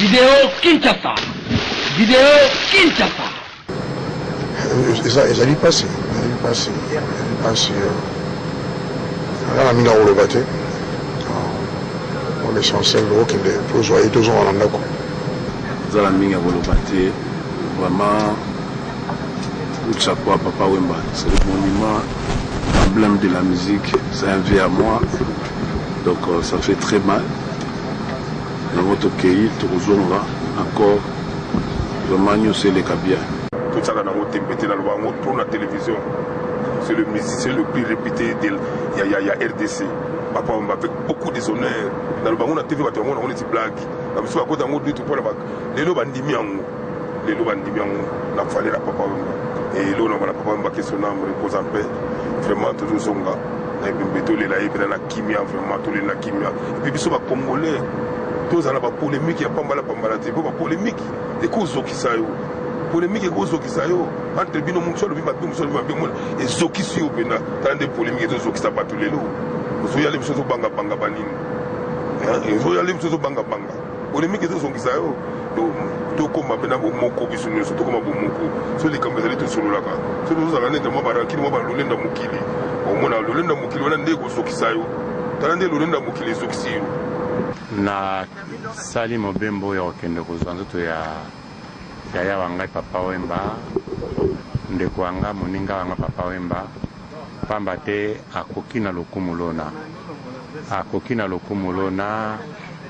Video Kinshasa. Video Kinshasa. ezali mpasi ezali mpasi ezali mpasi aza na mingi akoloba te on essentiel okende tozwa ye tozonga na ndako aza na mingi akoloba te vraiment chapeau à papa wemba c'est le monument emblème de la musique c'est un vieux à moi Donc euh, ça fait très mal. Yango tokeyi tokozonga encore vraiment nyonso eleka bien. Totyaka nango tembe te naloba yango mpo na télévision c'est le musicien le plus réputé de, ya, ya, ya rdc papa wamba avec beaucoup des honneurs naloba yango na tv bato yango nango neti blague na biso bakota yango dutu mpo na lelo bandimi yango lelo bandimi yango na fale na papa wemba elo na bana papa wemba ke son âme repose en paix vraiment tozozonga na ebembe tolela ye mpena na kimia vraiment tolela na kimia epuis biso bacongolais tozala bapolemike ya pambala pambala te mpo bapolemike ekozokisa yo polemike ekozokisa yo entre bino mosu alobi mabe mosu alobi mabe mona ezokisi yo mpenza tala nde polemike ezozokisa bato lelo ozoyale biso ozobangabanga banini ezoyale biso ozobangabanga Polemique ezozongisa yo tokoma mpe na bomoko biso nyonso tokoma bomoko so likambo ezali tosololaka so tozozala nete mwa barankini mwa balolenda mokili omona lolenda mokili wana nde ekozokisa yo tala nde lolenda mokili ezokisi yo nasali mobembo oyo ya kokende kozwa nzoto ya yaya wa ngai papa wemba ndeko wa ngai moninga wa ngai papa wemba Pamba te akoki na lokumu lona, akoki na lokumu lona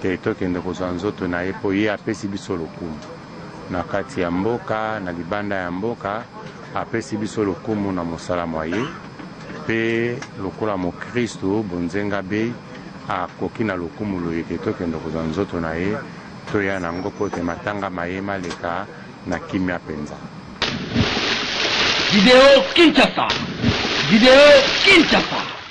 te tokende kozwa nzoto na ye, mpo ye apesi biso lokumu na kati ya mboka, na libanda ya mboka, apesi biso lokumu na mosala mwa ye, mpe lokola mokristu bonzenga be, akoki na lokumu loye te tokende kozwa nzoto na ye, toya na yango mpo te matanga ma ye maleka na kimia mpenza. Video Kinshasa. Video Kinshasa.